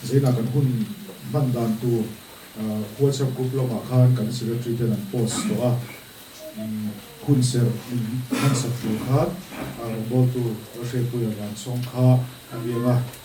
Zeinah kan hun hman dan tur WhatsApp group lamah khan kan secretary ten an post tawh a, hun ser min hmansak tur khan rawngbawltu Rashrepuia Vansawng kha a riang a.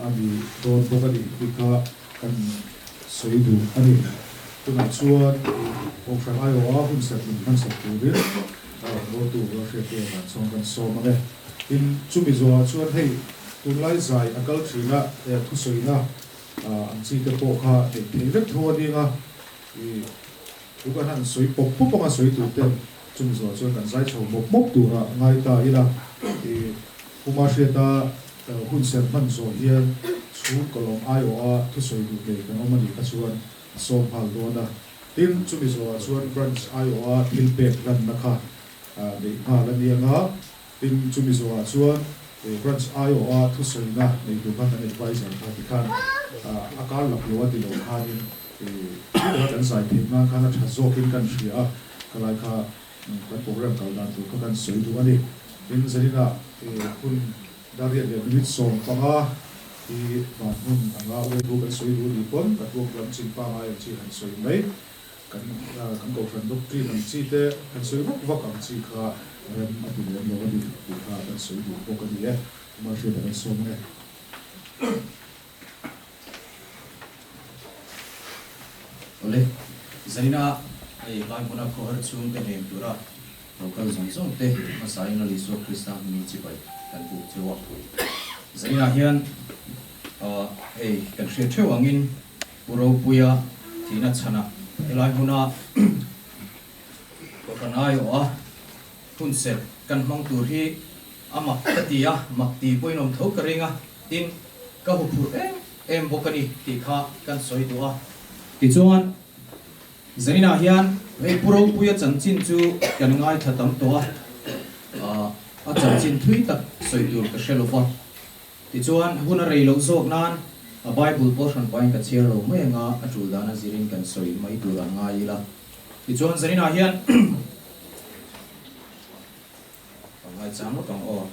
A ni dawn bawk a ni i kha kan sawi duh a ni. Tunah chuan Kohhran Iowa-a hunsak in hmansak tur in a rawn buaihtu rual hriattei a dan chuan kan sawm ang e. Tin, chumi zuaah chuan hei tunlai zai a kal thinna leh thusawiina ang chi te pawh kha neih theih vek tho a ning a. I, tuk an han sawi pawp pawp ang a sawi tur ten. Chumi zawh chuan kan zai chho bawk bawk tura ngai ta ila i puma hriat a hun serh hman zawh hian chhung kawlawm ai awh a thusawi duh ke kan awm a nih kha chuan a sawm nghal dawn a. Tin, chumi zawhah chuan branch ai awh a thil pek hlanna kha neih nghal a ni anga. Tin, chu Mizorah chuan he Branch aiawha thusawiina nei tur kha kan advisor kha ti khan a kar lak lo a ti lo khanin thu a kan zai theih nan khan a tha zawkin kan hria a, khalai kha kan programme kal dan tur kha kan sawi duh a ni. Tin, Zalina he hun Dariat leh Minute sawm panga hi van hmun anga waitu kan sawi duh ni pawn a tuam lam chin pangai ang chi han sawi mai. Kan kan Kohhran doctrine ang chi te kan sawi vak vak ang chi kha rem a ti lem lo a ni tih kha kan sawi duh bawk a ni e. Market a kan sawm e. Awle, zaina hei hlai hmuna khawher chhung te heng tura lo kal zawng zawng te hmasa in rali suak Krista hmingin chi pai kan buk theuh a. Zaina hian hei kan hria theuh angin. Pu Ropuia thihna chhana helai hmuna pawh kan aiawh a, hunserh kan hmang tur hi a mak ka ti a, mak ti pawhin awm tho ka ring a, tin, ka hu phurh em em bawk a ni tih kha kan sawi duh a. Tichuan, Zaina hian hei Pu Ropuia chanchin chu kan ngaithla tam tawh a, a chanchin thui tak sawi tur ka hre lova. Tichuan, hun a rei lo zawk nan, a Bible pawh hran pain ka chhiar lo mai anga a tul dan a zirin kan sawi mai tur an ngai ila. Tichuan, zaninah hian ka ngai chang lawk ang aw.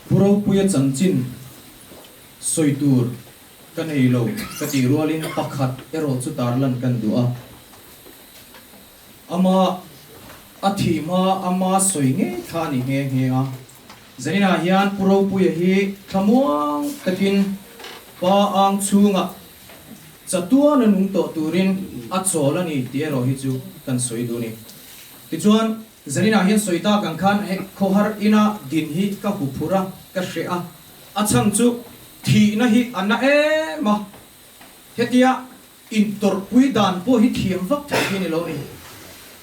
Pu Ropuia chanchin sawi tur ka nei lo ka tih rualin pakhat erawh chutar lan kan duh a. Ama a thih hma ama sawi ngei thla a nih nghe nghe a. Zainah hian Pu Ropuia hi thlamuang takin pa ang chhunga chatuan a nung tawh turin a chawl a ni tih erawh hi chu kan sawi duh a ni. Tichuan, Zainah hian sawi tak ang khan hei khawhar ina din hi ka hu phur a, ka hreh a, a chhang chu thihna hi a na em a. Hetia. Intawrhpui dan pawh hi thiam vak thei hi a ni lo ni.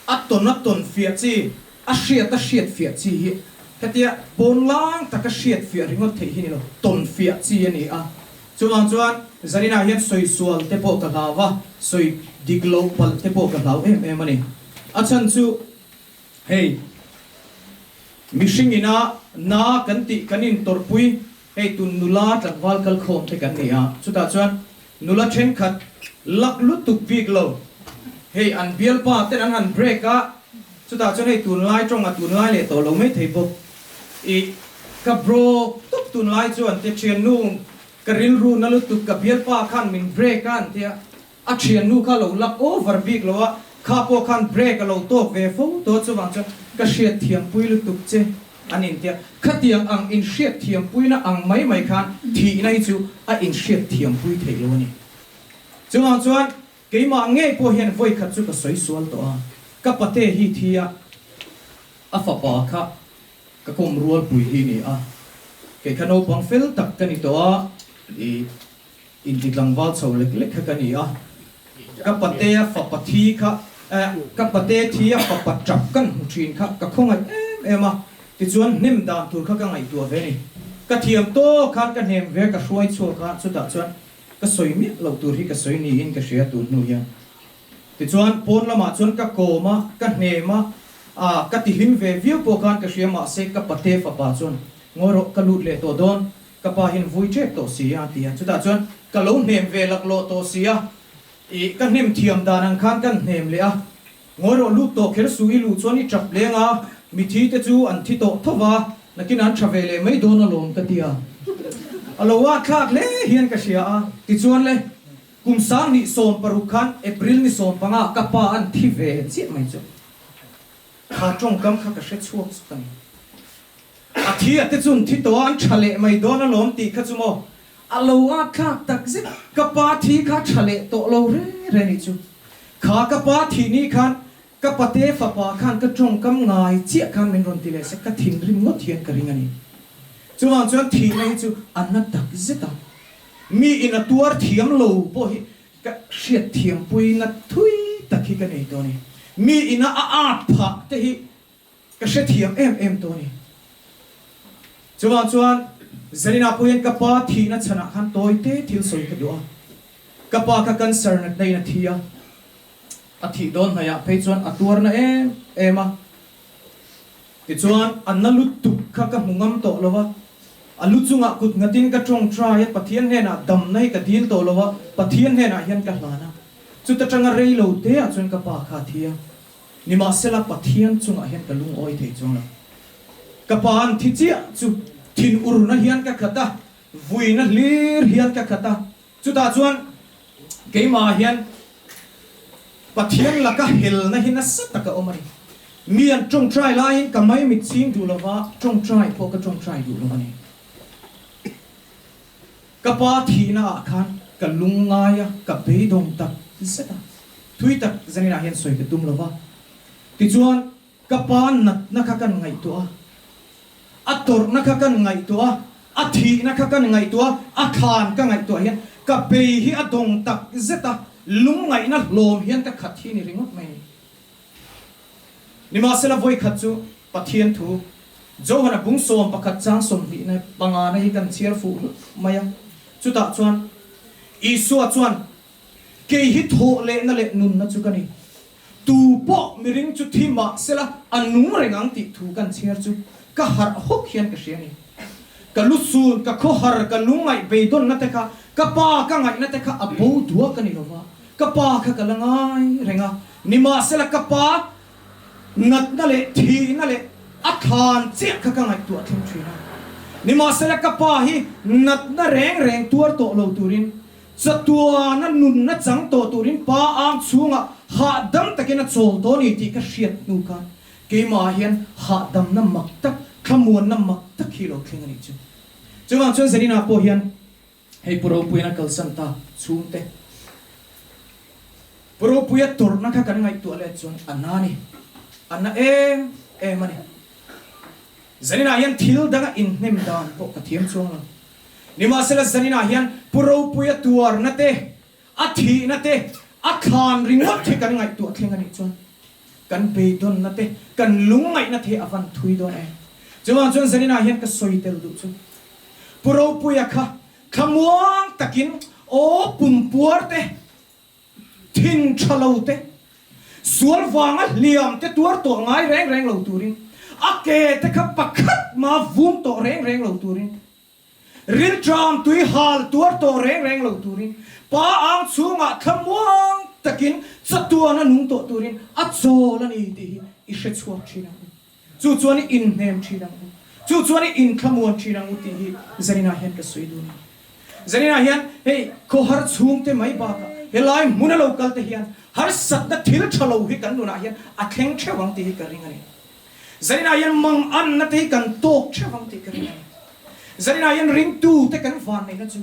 A tawn a tawn fiah chi, a hriat a hriat fiah chi hi hetia pawn lang taka hriat fiah ringawt thei hi ni lo, tawn fiah chi a ni a. Chuvang chuan zaninah hian sawi sual te pawh ka hlau va, sawi dik lo palh te pawh ka hlau em em a ni. A chhan chu hei mihring ina na kan tih kan intawrhpui Hei tun nula tlangval kal khawm te kan ni a, chutah chuan nula thenkhat lak lutuk bik lo, hei an bialpa ten an han break a, chutah chuan hei tunlai tawng a tunlai leh tawh lo mai thei bawk i, ka brawk tawp tunlai chuan Htethiannu ka rilru na lutuk ka bialpa khan min break a an ti a, A thiannu kha lo lak over bik lo a, kha pawh khan break a lo tawk ve fo tawh a, chuvang chuan ka hriatthiampui lutuk che an intia. Khatiang ang inhriatthiampuina ang mai mai khan thihna hi chu a inhriatthiampui theih lo a ni. Chuvang chuan keimah ngei pawh hian vawikhat chu ka sawi sual tawh a, ka pate hi thi a, a fapa kha ka kawm rualpui hi ni a, kei kha naupang fel tak ka ni tawh a, i Inti tlangval chho lek lek kha ka ni a, ka pate a fapa thi kha eh ka pate thi a fapa tap kan hmu thin kha ka khawngaih em em a, tichuan hnem dan tur kha ka ngaihtuah ve ni. Ka thiam tawk khan ka hnem ve ka hruai chhuak a, chutah chuan ka sawi miah loh tur hi ka sawi niin ka hria tun hnu hian. Tichuan pawn lamah chuan ka kawm a, ka hnem a, ah ka tihlim ve viau pawh khan ka hria mahse ka pate fapa chuan ngawi rawh ka lut leh tawh dawn Ka pa hian vui ṭep tawh si a ti a, chutah chuan ka lo hnem ve laklawh tawh si a, ih ka hnem thiam dan ang khan kan hnem leh a, ngawi rawh lut tawh kher suh i luh chuan i ṭap leng a, mithi te chu an thi tawh tho va, nakin an ṭha ve leh mai dawn alawm ka ti a, a lo a thlak hle hian ka hria a, tichuan le kum sang ni sawm paruk khan April ni sawm panga ka pa an thi ve chiah mai chu. Kha tawngkam kha ka hre chhuak chu ka ni. A thi a te chun thi tawh a, an tha leh mai dawn a lawm tih kha chu maw. A lo a tlak tak zet. Ka pa thi kha tha leh tawh lo re re ni chu. Kha ka pa thi ni khan ka pate fapa khan ka tawngkam ngai chiah khan min rawn ti leh se, ka thinrim ngawt hian ka ring a ni. Chuvang chuan thihna hi chu a na tak zet a, mi ina tuar thiam lo pawh hi Ka hriatthiampui na thui tak hi ka nei tawh a ni. Mi ina a at phah te hi ka hrethiam em em tawh a ni. Chuvang chuan Zarina pawh hian ka pa thihna chhanah khan tawite thil sawi ka duh a. Ka pa kha cancer natna in a thi a. A thih dawn hnaihah phei chuan a tuarna em em a. Tichuan, a na lut tuk kha ka hmu ngam tawh lo a, a lu chungah kut nghatin ka tawng try a, Pathian hnenah damna hi ka dil tawh lo a, Pathian hnenah hian ka hlan a. Chuta tanga rei lo teah chuan ka pa kha a thi a, nimahsela Pathian chungah hian ka lungawi thei chuang lo. Ka pa'n thi chiah chu thin urna hian ka khat a, vuina hlir hian ka khat a. Chutah chuan keimahah hian Pathian laka helna hi nasa taka awm a ni. Mi an ṭawngṭai laiin ka mai mitching duh lova ṭawngṭai pawh ka ṭawngṭai duh lo a ni. Ka Pa thihna ah khan ka lung ngai a, ka beidawng tak zet a, thui tak zaninah hian sawi ka tum lova. Tichuan. Ka Pa natna kha kan ngaihtuah a, a tawrhna kha kan ngaihtuah a, a thihna kha kan ngaihtuah a, a than ka ngaihtuah hian ka bei hi a dawng tak zet a, lungngaihna hlawm hian ka khat hi ni ringawt mai a ni. Nimahsela vawikhat chu Pathian thu Johana bung sawm pakhat chang sawmhnihna pangana hi kan chhiar fuh hlut mai a, chutah chuan Isua chuan, Kei hi thawhlehna leh nunna chu ka ni, Tu pawh mi ring chu thi mah sela a nung reng ang tih thu kan chhiar chu ka harh hawk hian ka hria ni. Ka lu sun, ka khaw har, ka lu ngaih beidawnna te kha, ka pa ka ngaihna te kha a bo duak a ni lo va, ka pa kha ka la ngai reng a ni mah sela ka pa natna leh thihna leh a thlan chiah kha ka ngaihtuah thleng thin a ni mah sela ka pa hi natna reng reng tuar tawh lo turin Chatuana nunna chang tawh turin pa ang chhunga hahdam takin a chawl tawh a ni tih ka hriat hnu khan keimah hian hahdamna mak tak, thlamuanna mak tak hi lo thleng a nih chu. Chuvang chuan Zarina pawh hian hei Pu Ropuiana kalsan ta chhung te, Pu Ropuia tawrhna kha kan ngaihtuah leh chuan a na a ni. A na em em a ni. Zarina hian thil danga inhnem dan pawh ka thiam chuang lo. Nimahsela zaninah hian Pu Ropuia tuarna te, a thihna te, a thlan ringawt hi kan ngaihtuah thleng a nih chuan kan beidawnna te, kan lungngaihna te a van thui dawn e. Chuvang chuan zaninah hian ka sawi tel duh chu Pu Ropuia kha thlamuang takin aw pumpuar te, Thing tha lo te, sual vanga hliam te tuar tawh ngai reng reng lo turin, a ke te kha pakhat hma vum tawh reng reng lo turin, rilṭam tui hal tuar tawh reng reng lo turin, pa ang chhungah thlamuang takin chatuana nung tawh turin a chawl a ni tih hi i hre chhuak ṭhin ang. Chu chuan i inhnem thin ang u, chu chuan i inthlamuan thin ang u tih hi Zarina hian ka sawi dun a. Zarina hian hei khawhar chhungte mai bakah helai hmun a lo kalte hian harsatna thil tha lo hi kan nunah hian a thleng theuh ang tih hi ka ring a ni. Zarina hian mang annate hi kan tawk theuh ang tih ka ring a ni. Zarina hian ringtute kan vanneihna chu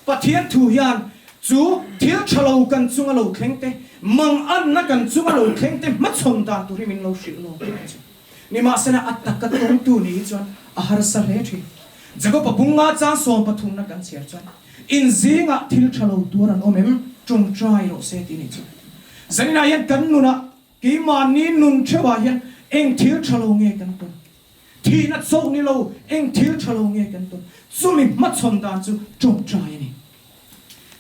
Pathian thu hian chu thil tha lo kan chunga lo thleng te, mangatna kan chunga lo thleng te hmachhawn dan tur hi min lo hrilh nuam tawh a ni. Nimahsela a taka tawngtu nih hi chuan a harsa hle thin. Jakopa bung nga chang sawm pathumna kan chhiar chuan in zingah thil tha lo tuar an awm em? Tawngtai rawh se ti nih chu. Zainah hian kan nunah. Keimahni nun theuhah hian eng thil tha lo nge kan ton? Thihna chauh ni lo eng thil tha lo nge kan ton? Chumi hmachhawn dan chu tawngtai a ni.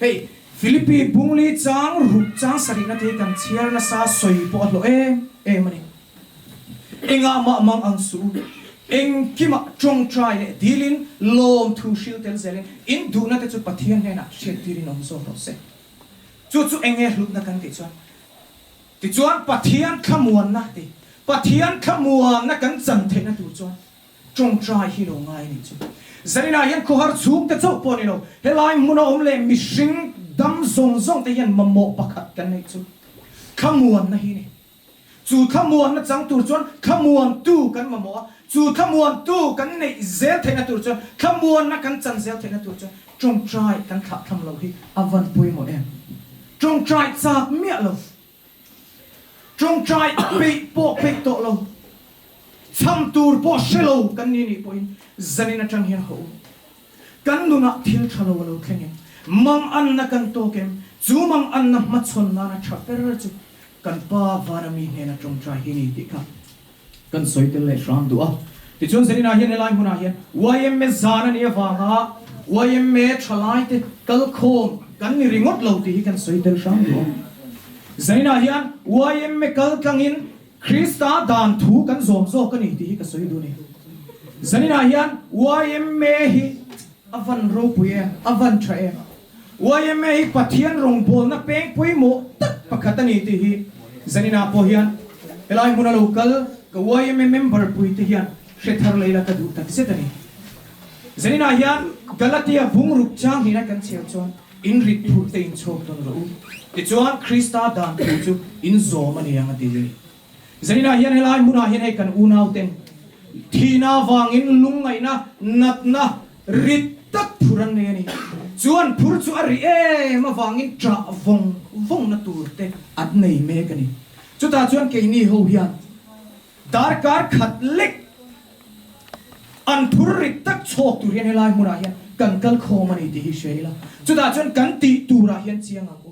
Hei, Philippi bungli chang ruk chang sarihna te hi kan chhiar nasa sawi pawh a hlawh em em a ni. Engah mah mang ang suh u, engkimah tawngtai leh dilin lawm thu hril tel zelin in duhnate chu Pathian hnenah hriattirin awm zawk rawh se. Chu chu eng nge hlutna kan tih chuan Tichuan, Pathian thlamuanna te, Pathian thlamuanna kan chan theihna tur chuan tawngtai hi lo ngai a nih chu. Zalina hian khawhar chhung te chauh pawh ni lo, helai hmun a awm leh mihring dam zawng zawng te hian mamawh pakhat kan neih chu thlamuanna hi a ni. Chu thlamuanna chang tur chuan thlamuantu kan mamawh a, chu thlamuantu kan neih zel theihna tur chuan, thlamuanna kan chan zel theihna tur chuan Tawngtai kan thlah tham lo hi a van pawimawh em? Tawngtai chak miah lo, tawngtai peih pawh peih tawh lo, chham tur pawh hre lo kan ni nih pawhin zanin atang hian hawh u. Kan nunah thil tha lo a lo thleng em? Mang anna kan tawk em? Chu mang anna hmachhawn nana tha ber chu kan pa Vanami hnena tawngtai hi ni tih kha Kan sawi tel leh hrang duh a. Tichuan zir inah hian helai hmunah hian yma zan a nih avanga yma thalaite kal khawm kan ni ringawt lo tih hi kan sawi tel hrang duh a. Zan inah hian yma kal tlangin Krista dan thu kan zawm zawk a ni tih hi ka sawi duh a ni. Zan inah hian yma hi a van ropui em, a van tha em, Yma hi Pathian rawngbawlna peng pawimawh tak pakhat a ni tih hi Zanina pawh hian helai hmuna lo kal ka yma member puite hian hre thar lei la ka duh tak zet a ni. Zanina hian Galatia bungruk changhlina kan chhiar chuan in rit phurhte in chhawk dawn rawh u tichuan Krista dan thu chu in zawm a ni ang a ti. Zainah hian helai hmunah hian hei kan unaute thihna avangin lungngaihna natna rit tak phur an nei a ni. Chuan phur chu a ri em avangin ṭah vawng vawngnâ turte an nei mek a ni. Chutah chuan keini ho hian darkar khat lek an phur rit tak chhawk tur hian helai hmunah hian kan kalkhawm a ni tih hi hria ila chutah chuan kan tih turah hian chiang ang u.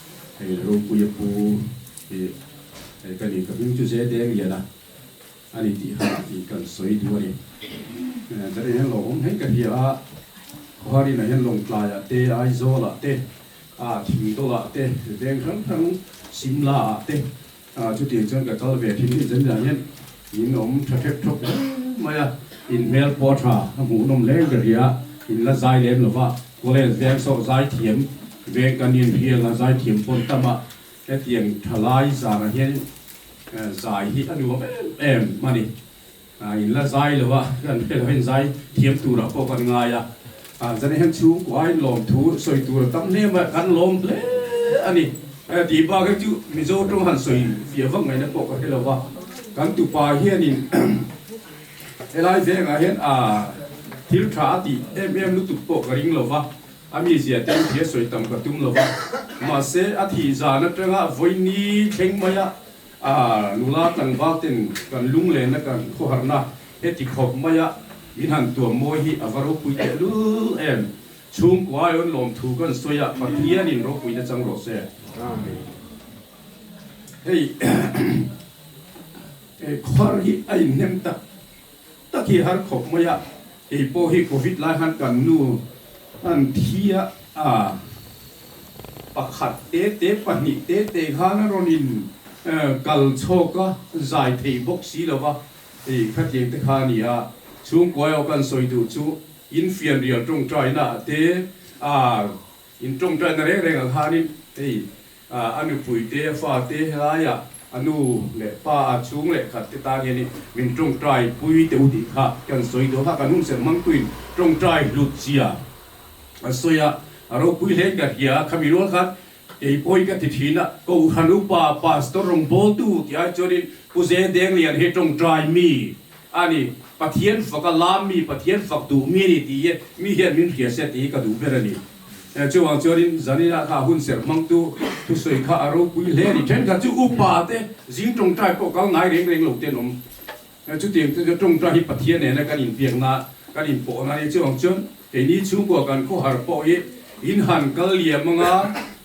Hei Ropuia pu hi hei ka nih ka hming chu Zte Miala a ni tih kha i kan sawi duh a ni. Ka nih hian lawmawm hmel ka hria a, Khuarina hian Lawngtlaiah te, Aizawlah te, a Thingdawlah te, Veng Hrang Hrang, Simlaah te A chutin chuan ka kal ve a thim inzem lian hian in awm tha hrep thawk hle mai a, in hmel pawh a tha a hmuh nawm hle ka hria, in la zai lem lo va, College veng sawh zai thiam veng kan in hria la zai thiam pawn ta mah, hetiang thalai zangah hian zai hi a nuam em em a ni. A in la zai lo a, kan pe lo in zai thiam tur ah pawh kan ngai a, a zan ah hian chhungkuai lawm thu sawi tur a tam hle mai, kan lawm hle a ni. Hei tih bak hi chu Mizo tawng han sawi fiah vak mai na pawh ka hre lo va, kan tupa hian in he lai veng ah hian a thil tha a tih em em lutuk pawh ka ring lo va, a mi zia te in thir sawi tam ka tum lo va, mahse a thih zan atang a vawi ni thleng mai a, A nula tlangval ten kan lunglena kan khawharna heti khawp maia min han tuam mawi hi ava ropui teh lul em? Chhungkua aiawn lawm thu kan sawi a Pathian in ropui na chang rawh se. Hei khawhar hi a inhnem tak. tak i har khawp mai a, kei pawh hi covid lai khan kan nu han thia a, pakhat te te pahnih te te khan a rawn in kal chhawk a, zai thei bawk si lo va, hei khatiang te kha a ni a, chhungkuai aw kan sawi duh chu in fian rial tawngtai na te a, in tawngtai na reng reng ah khan in hei A nupui te, a fa te helaia a nu leh pa a chhung leh khat te tan hianin min tawngtai pui teh u tih kha khi an sawi dawn a, kan hun serh mang tuin tawngtai hlut zia an sawi a, a ropui hleng ka hria a, khami rual khan kei pawi ka ti thin a, Kohhran upa Pastor Rawngbawitu ti ai chuanin Pu Zedeng lian hi tawngtai mi a ni, Pathian faka lam mi, Pathian fak duh mi a ni ti i mi hian min hria sia ti hi ka duh ber a ni. Eh, chuvang chuan in Zanina kha a hun ser hmangtu thusawi kha a ropui hle a ni. Thenkhat chu upa te, zing tawngtai pawh kal ngai reng reng lo te an awm. Eh, chutiang te chuan tawngtai hi Pathian nena kan inpiak na, kan inpawh na a ni. Chuvang chuan keini chhungkua kan khawhar pawh hi in han kal liam anga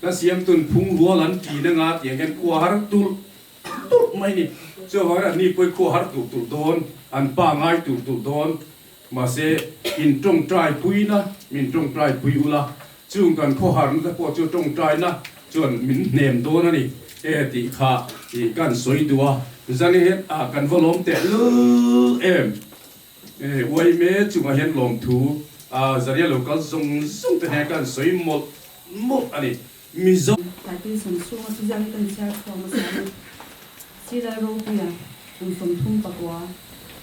ka siamtun phungrual an tiin anga tiang hian khuahar tulh tulh mai a ni. Chuvang hian an ni pawhin khuahar tulh tulh dawn, an pangai tulh tulh dawn. Mahse, in tawngtai puina min tawngtai pui ula, chung kan khawharna te pawh chu tawngtaina chuan min hnem dawn a ni e tih kha ih ka han sawi duh a, Janet a kan va lawm teh luh em? E, uaime chungah hian lawmthu a Zaria lo kal zawng zawng te hnena ka han sawi mawlh mawlh a ni. Mizo. Taitin sam chhunga Suzian hi ka ni chhiar chhuak nasa ania, Silai ropuia kum sawmthum pakua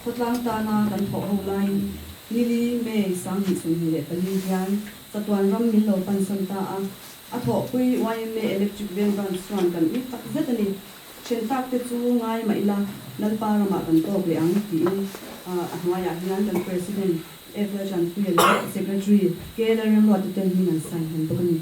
khawtlang tana kan thawh ho laiin Nili, May, Sang hnih sawmhnih leh pali hian chatuan ram min lo pansan ta a, a thawhpui yma electric veng branch chuan kan ih tak zet ani, chen takte chu ngai mah ila Lalpa ramah kan tawk leh ang tiin a hnuaiah hian kan President Epler Chanpuia leh Secretary Kela Remruatute hming an sign han bawk ani.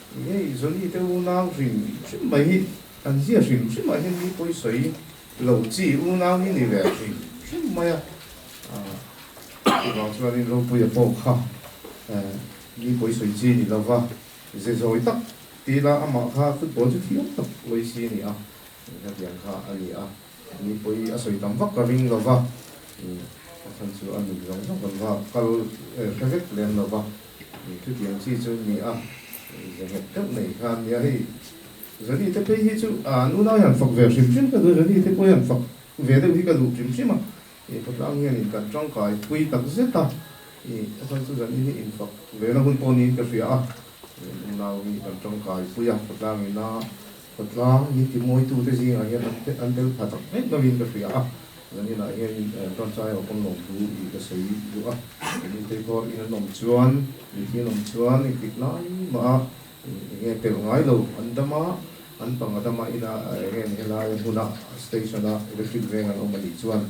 Hei Johnny te unau hrim hrim mai hi an ziah hrim hrim ah hian mi pawi sawi lo chi unau hi ni leh hrim hrim mai a chuvang chuan in ropui a pawh kha mi pawi sawi chi ni lo va ze zawi tak tila amah kha football chu thiam tak uaisi a ni a inhla biang kha a ni a. Mipui a sawi tam vak ka ring lo va, pathan chu a nuih zawng zawng kan va kal hre vek lem lo va, chutiang chi chu ni a, ze nghet deuh mai khan nia hei Zani te phei hi chu a nu lai han fak ve hrim hrim ka duh a, Zani te pawhin han fak ve deuh hi ka duh hrim hrim a, khawtlang hianin kan tangkai pui tak zet a, pathan chu Zani hi infak ve na hun pawh niin ka hria a, a nu nau hi kan tangkai pui a khawtlangin a. Khawtlang ni timuaitute zingah hian an te an tel tha tak mek lovin ka hria a, zan inah hian Tonchai Awkawm lo thu i ka sawi duh a, eng in teipawh in an awm chuan mithi an awm chuan i tih lai mah a, eng nge pelh ngai lo an dam a, an pang a dam a ina eng nge ni helai a hmuna station a electric veng an awm a nih chuan.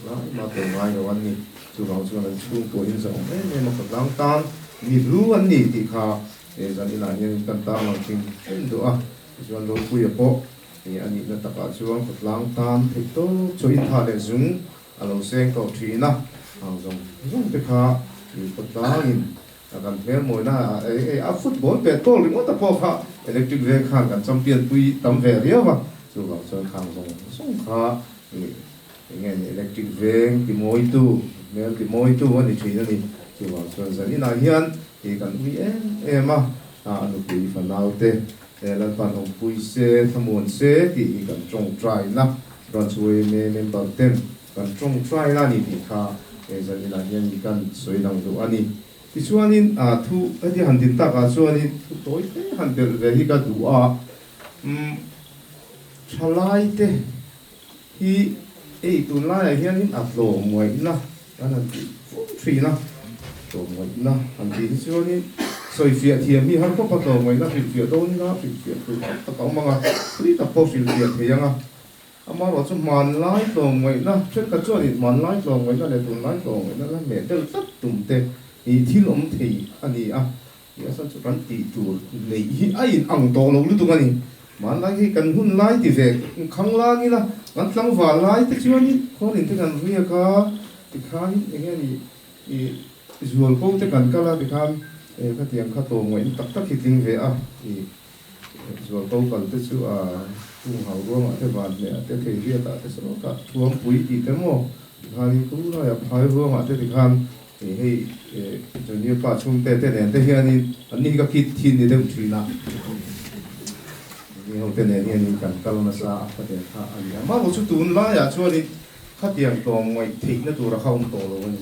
Tlai mah tur ngai lo an ni. Chuvang chuan an chhung pawh in zan awm em em a khawtlang tan mi hlu an ni tih kha zan inah hian in tan tang lo thin em duh a. Tichuan Rawlpuia pawh he a nihna takah chuan khawtlang tan theih tawp chu intha leh zung a lo seng tawh thin a. Hau zawng zawng te kha ih paw tlangin Ka kan hmel mawina a football pet goal ringawta pawh kha electric veng khan kan champion pui tam ve riau a, chuvang chuan khang zawng zawng kha i eng nge ni electric veng ti mawitu hmel ti mawitu a ni thin a ni. Chuvang chuan zan inah hian hei kan ui em em a, a nupui fa naute e Lalpan Hawngpui se Thlamuan se tih hi kan tawng try na Branch Way me member ten, Kan tawng fai la ni tih kha eizan inah hian mi kan sawi dang duh a ni. Tichuanin thu heti han din takah chuanin thu tawi hle han belh ve hi ka duh a, umm thalaite hi ei tun laiah hianin a tlawmngaihna kan han tih fur thin a, tlawmngaihna han tih hi chuanin sawifiah thiam hi har khawpa tlawmngaihna hrilhfiah dawnna hrilhfiah tur tam tak a awm ang a, tui tak pawh hrilhfiah thei ang a. Amarawh chu hmanlai tlawmngaihna, thenkhat chuan i hmanlai tlawmngaihna leh tunlai tlawmngaihna la neh deuh tlat tumte i thil awm thei a ni a, tih a san chu kan tih tur neih hi a inang tawh lo lutuk a ni. Hmanlai hi kan hun lai ti ve, khang lâng ila kan tlangval lai te chuanin khawlin te kan riak a, tikhain eng nge nih ih zual ko te kan kal a, tikhan khatiang kha tlawmngaihna tak tak hi tling ve a ni. Zualto kal te chu a hung hau ruangah te van hmeh ah te thei biak ah te sawt ah thuampui tih te maw ti khan in thu lai a phai ruang ah te ti khan ih hei junior pa chhung te te nen te hian in an ni hi ka kit thin ni deuh thin a mi ho te nen hian in kan kal nasa a kha der kha a ni a mahmo chu tun lai ah chuan in khatiang tlawm ngaih theih na tur a kha awm tawh lo a ni.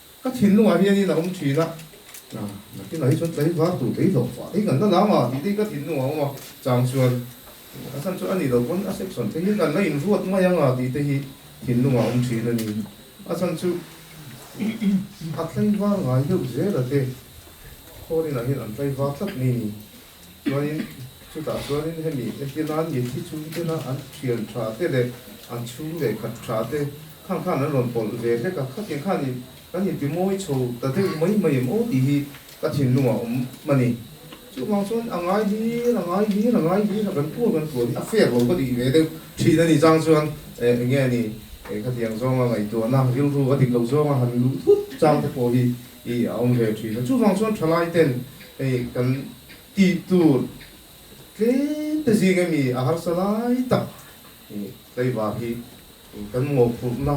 Ka thinlungah hian in a awm thin a. Hna, nakin ahi chuan tlaivar tur kei hlawh fah thei nganna lam a, tih te hi ka thinlungah a awm a. Chang chuan, A chhan chuan a nih loh pawn a sek sawn theihin an la inruat mai ang a, tih te hi thinlungah a awm thin a ni. A chhan chu a tlaivar ngai deuh zel a te. Khawlin ah hian an tlaivar tlat mai a ni. Chuanin chutah chuanin hemi Asia nan mithi chhung tena an thian tha te leh an chhung leh khat tha te khang khan an rawn pawlh ve hlek a, khatiang khan in kan inti mawi chho ta deuh mai mai em aw tih hi ka thinlungah awm a ni. Chuvang chuan a ngai hlir a ngai hlir a ngai hlir a kan kual kan kual hi a fek lo ka nih ve deuh thin a ni chang chuan eh enge a ni khatiang zawnga ngaihtuahna rilru a dik lo zawnga han luh thut chang te pawh hi Hi a awm ve thin a. Chuvang chuan thalaiten hei kan tihtu tlêmte zing emi a harsa lai tak tleivar hi kan mawhphurhna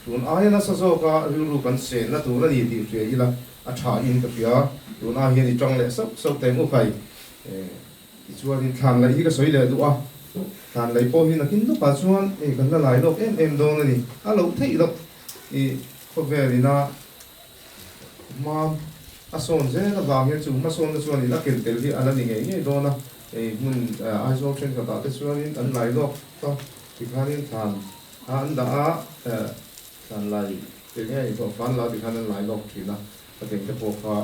tun aia nasa zawk a rilru kan senna tur a ni tih hria ila a tha in ka hria. Tun ah hian i tang leh sauh sauh teng u khai. Tichuanin thlanlai hi ka sawi leh duh a, thlanlai pawh hi nakin lawk ah chuan kan la lai lawk em em dawn a ni. A lo theih loh i khawvel ina. Hma a sawn zel avangin chu hma sawnna chuan in a ken tel hi a la ni ngei ngei dawn a, hei hmun Aizawl thenkhatah te chuanin an lai lawk ta tikhanin thlan a an dah a, thlan lai te nge a inhawh fân la tikhan an lai lawk thin a, a ken te pawh kha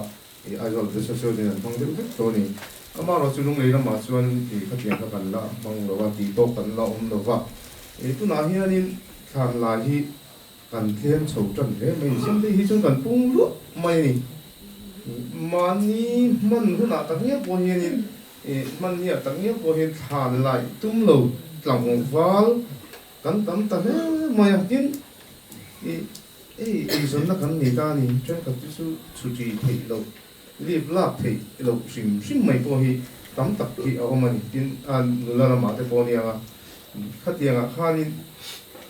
i Aizawl ah te sawn sawn in an hmang deuh vek dawn a ni. Amaherawh chu Lunglei lamah chuan i khatiang kha kan la hmang lo va, tih tawk kan la awm lo va. Tunah hianin thlan lai hi. Kan thleng chho tan hle mai ni. Changte hi chuan kan pung luah mai a ni. Mahni hman hunah tak ngial pawh hian in eh hmanniah tak ngial pawh hian thlan lai tum lo tlangval kan tam ta hle mai a. Tin, i ei eizawnna kan nei ta a ni. Ṭenkhat te chu chhuṭi theih loh. Lip lak theih loh hrim hrim mai pawh hi tam tak hi a awm a ni. Tin, a nula lamah te pawh aniang a, khatiangah khanin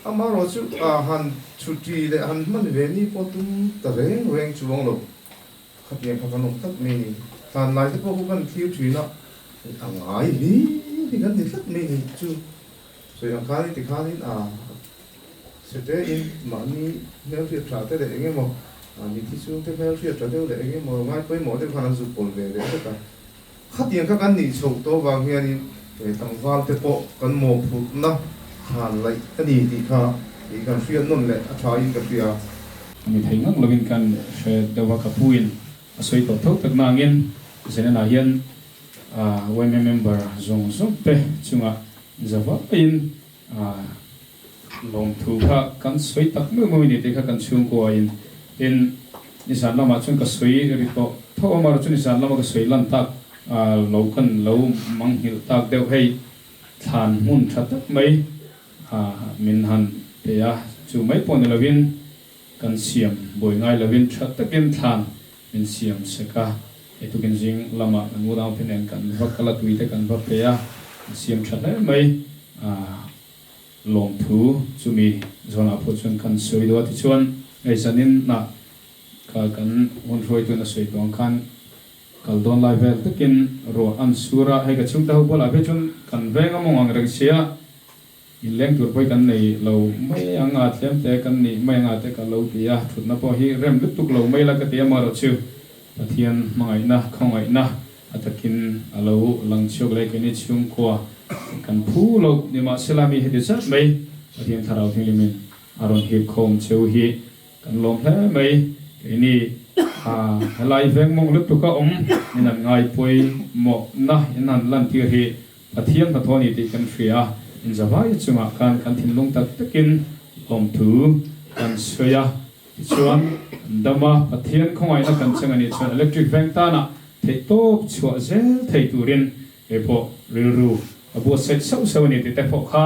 ama erawh chu aa han thuti leh a han hman ve ni pawh tum ta reng reng chuang lo. Khatiang kha kan awm tlat mai ni. Hlanlai te pawh khaw kan thlir thin a, a ngai hlim hi kan ni tlat mai ni chu. Sawi a kai ti khanin a sete in mahni hmelhriat tha te leh engemaw mithi chhungte hmelhriat tha deuh leh engemaw ngai pawimawh deuh khan an zuk pawl ve leh vek a. Khatiang kha kan nih chhoh tawh vang hianin he tlangval te pawh kan mawhphurhna than laih a ni tih kha ih kan hria nawn leh a tha in ka hria a. A ni thei ngak lovin kan hre deuh a ka puin a sawi tawh tho tak nangin Zenan-ah hian Uaime member zawng zawng te chunga zavaiin lawmthu kha kan sawi tak muih muih ni tih kha kan chhungkua in tin ni zan lamah chuan ka sawi ri tawh tho a mar chu ni zan lama ka sawi lan tak lo kan lo manghilh tak deuh hei thlan hmun tha tak mai min han peih a chu mai pawh ni lo in Kan siam buai ngai lovin tha takin thlan min siam sek a, hei tukin zing lama kan u dang phine kan va kal a, tui te kan va pe a, kan siam tha hle mai a, lawmthu chumi zawnah pawh chuan kan sawi deuh a, tichuan hei zanin hnah kha kan hun hruaituna sawi tuang khan kal dawn lai vel takin ruah an sur a, hei ka chhungte ho bulah phi chuan kan veng a mawng ang reng sia In leng tur pawh hi kan nei lo mai ang a, thiam te kan nih mai ang a te ka lo ti a, thutna pawh hi rem lutuk lo mai la ka ti amarawh chu Pathian hmangaihna, khawngaihna a takin a lo lang chhiawk leh keini chhungkua kan phu lo ni mah se la mi heti zat mai Pathian Thlarau thinglimin a rawn hip khawm cheu hi kan lawm hle mai keini ah helai veng mawng lutuk a awm in han ngaipui mawhna in han lantir hi Pathian hnathawh a ni tih kan hria a, inzavai chungah khan kan thinlung tak takin awmthu kan sawi a. Tichuan, Dama Pathian khawngaihna kan cheng a nih chuan electric veng tanah theihtawp chhuah zel thei turin, Eipawh rilru a buatsaih sauh sauh a ni tih te pawh kha